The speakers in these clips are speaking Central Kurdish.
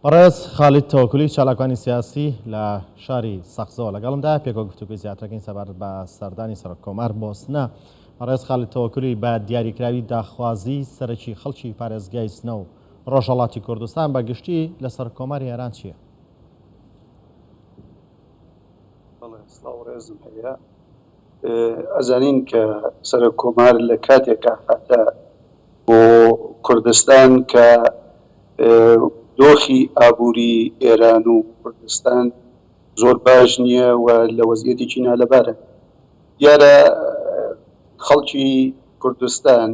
بەڕێز خالید تەوەکلی چالاکوانی سیاسی لە شاری سەقزەوە لەگەڵمدا پێکەوە گفتوگوی زیاترەکەین سەبارەت بە سەردانی سەرۆک کۆمار بۆسنە بەڕێز خالید تەوەکلی بە دیاریکراوی داخوازی سەرەکی خەڵکی پارێزگای سنە و ڕۆژهەڵاتی کوردستان بە گشتی لەسەر کۆماری ئێران چییە؟ بەڵێ سڵاو ڕێزم هەیە. ئەزانین کە سەرۆک کۆمار لە کاتێکا هاتە بۆ کوردستان کە دۆخی ئابووری ئێران و کوردستان زۆر باش نییە و لە وەزیەتێکی نالەبارە دیارە خەڵکی کوردستان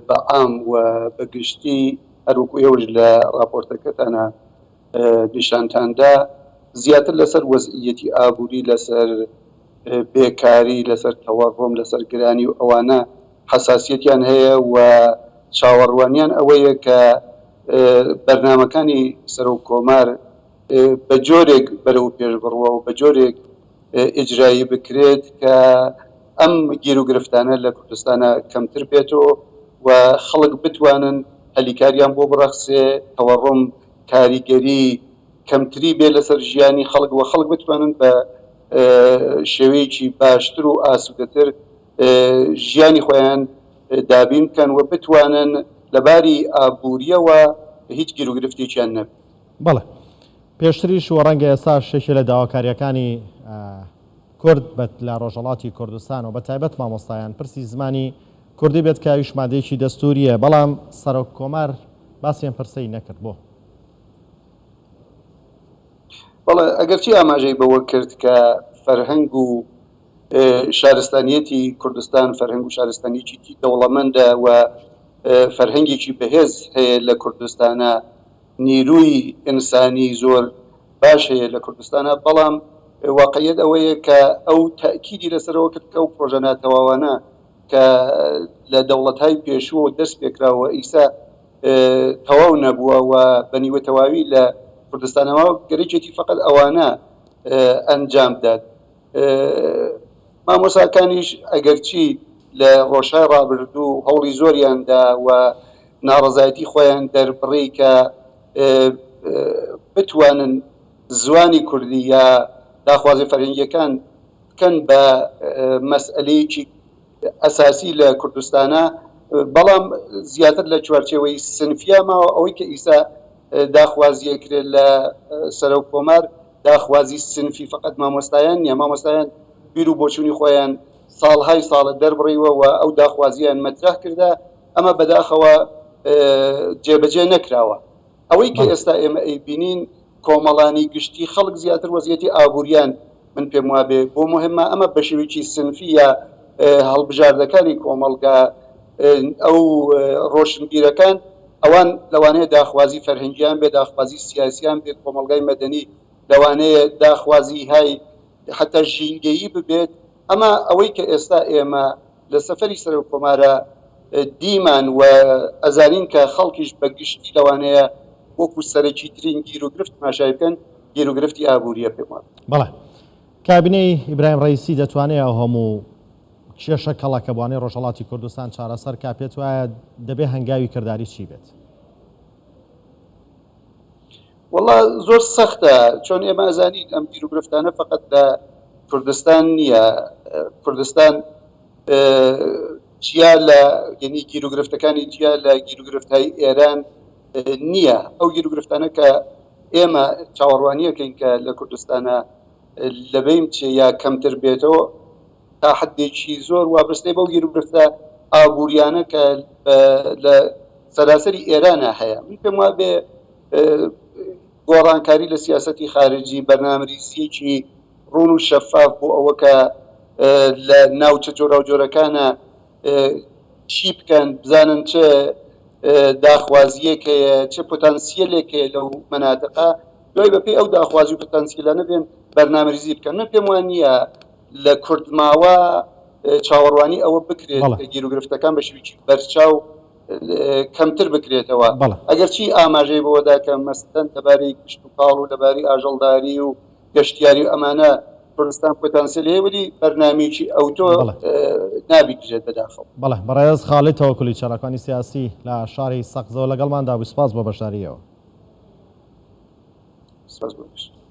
بە عام و بە گشتی هەروەکو ئێوەش لە ڕاپۆرتەکەتانا پیشانتاندا زیاتر لەسەر وەزعییەتی ئابووری، لەسەر بێکاری، لەسەر تەوەڕم، لەسەر گرانی و ئەوانە حەساسییەتیان هەیە و چاوەڕوانیان ئەوەیە کە بەرنامەکانی سەرۆک کۆمار بە جۆرێک بەرەو پێش بڕوا و بە جۆرێک ئیجرایی بکرێت کە ئەم گیروگرفتانە لە کوردستانا کەمتر بێتۆ و خەڵک بتوانن هەلی کاریان بۆ بڕەخسێ، تەوەڕم، کاریگەری کەمتری بێت لەسەر ژیانی خەڵک و خەڵک بتوانن بە شێوەیەکی باشتر و ئاسوودەتر ژیانی خۆیان دابین بکەن و بتوانن لە باری ئابوورییەوە هیچ گیروگرفتێکیان نەبێت. بەڵێ پێشتریش و ڕەنگە ئێستاش یەکێ لە داواکارییەکانی کورد بێت لە ڕۆژهەڵاتی کوردستان و بەتایبەت مامۆستایان پرسی زمانی کوردی بێت کاویش مادەیەکی دەستوریە بەڵام سەرۆک کۆمار باسی ئەم پرسەی نەکرد بۆ؟ بەڵێ ئەگەرچی ئاماژەی بەوە کرد کە فەرهەنگ و شارستانیەتی کوردستان فەرهەنگ و شارستانیەکیی دەوڵەمەندە و فەرهەنگێکی بەهێز هەیە لە کوردستانا نیرووی ئینسانی زۆر باش هەیە لە کوردستانا بەڵام واقعیەت ئەوەیە کە ئەو تەئکیدی لەسەرەوە کرد کە ئەو پرۆژە ناتەواوانە کە لە دەوڵەتهای پێشووەوە دەست پێکراو و ئیستا تەواو نەبووە و بە نیوە تەواوی لە کوردستانەوە گەرەکێتی فەقەت ئەوانە ئەنجام بدات مامۆساکانیش ئەگەرچی لە ڕۆژهای ڕابردوو هەوڵی زۆریاندا و ناڕزایەتی خۆیان دەربڕی کە بتوانن زوانی کوردی یا داخوازی فەرهنگیەکان کەن بە مەسئەلەیەکی ئەساسی لە کوردستانا بەڵام زیاتر لە چوارچێوەی سنفیا ماوە ئەوەی کە ئیسا داخوازی ئەکرێت لە سەرۆک کۆمار داخوازی سنفی فەقەت مامۆستایان نیە مامۆستایان بیر و بۆچوونی خۆیان ساڵهای ساڵە دەربڕیوە و ئەو داخوازیان مەترەح کردە ئەمە بەداخەوە جێبەجێ نەکراوە ئەوەی کە ئێستا ئێمە ئەیبینین کۆمەڵانی گشتی خەڵک زیاتر وەزیەتی ئابووریان من پێم وابێ بۆ مهمە ئەمە بە شێوەیەکی سنفی یا هەڵبژاردەکانی کۆمەڵگا ئەو ڕۆشنبیرەکان ئەوان لەوانەیە داخوازی فەرهەنگیان بێ داخوازی سیاسیان بێ کۆمەلگای مەدەنی لەوانەیە داخوازی های حتا ژینگەیی ببێت ئەمە ئەوەی کە ئێستا ئێمە لە سەفەری سەرۆک کۆمارە دیمان و ئەزانین کە خەڵکیش بە گشتی لەوانەیە وەکو سەرەکی ترین گیر و گرفت تماشای بکەن گیر و گرفتی ئابووریە پێم وابێ. بەڵێ کابینەی ئیبراهیم ڕەییسی دەتوانێ ئەو هەموو کێشە کەڵەکەبوانەی ڕۆژهەڵاتی کوردستان چارەسەر کا پێت وایە دەبێ هەنگاوی کرداری چی بێت؟ وەڵا زۆر سەختە چۆن ئێمە ئەزانین ئەم گیروگرفتانە فقط لە کوردستان نییە کوردستان جیا لە یعنی گیروگرفتەکانی جیا لە گیروگرفتای ئێران نییە ئەو گیروگرفتانە کە ئێمە چاوەڕوانیەکەین کە لە کوردستانە لەبین چێ یا کەمتر بێتەوە تا حدێکی زۆر وابستەی بەو گیروگرفتە ئابووریانە کە لە سەراسەری ئێرانە هەیە من پێم وابێ گۆڕانکاری لە سیاسەتی خارجی، بەرنامریزییەکی ڕوون و شەفاف بۆ ئەوە کە لە ناوچە جۆراوجۆرەکانە چی بکەن، بزانن چ داخوازییەک هەیە، چ پۆتانسییەلێک هەیە لەو مەناتقە، دوای بەپێی ئەو داخوازی و پۆتانسییەلانە بێن بەرنامریزی بکەن. من پێم وا نییە لە کورتماوە چاوەڕوانی ئەوە بکرێت کە گیروگرفتەکان بە شێوەیەکی بەرچاو. کەمتر بکرێتەوە ئەگەرچی ئاماژەی بەوەدا کە مەسەن لەباری کشت و کاڵ و لەباری ئاژەڵداری و گەشتیاری و ئەمانە کوردستان پۆتانسیل هەیە ولی بەرنمێکی ئەو تۆ نابیترێت بەداخەوە بەڵێ بەڕێز خاڵی تەوەکلی چالاکانی سیاسی لە شاری سەقزەوە لەگەڵماندا بوو سپاس بۆ بەشداریەوە.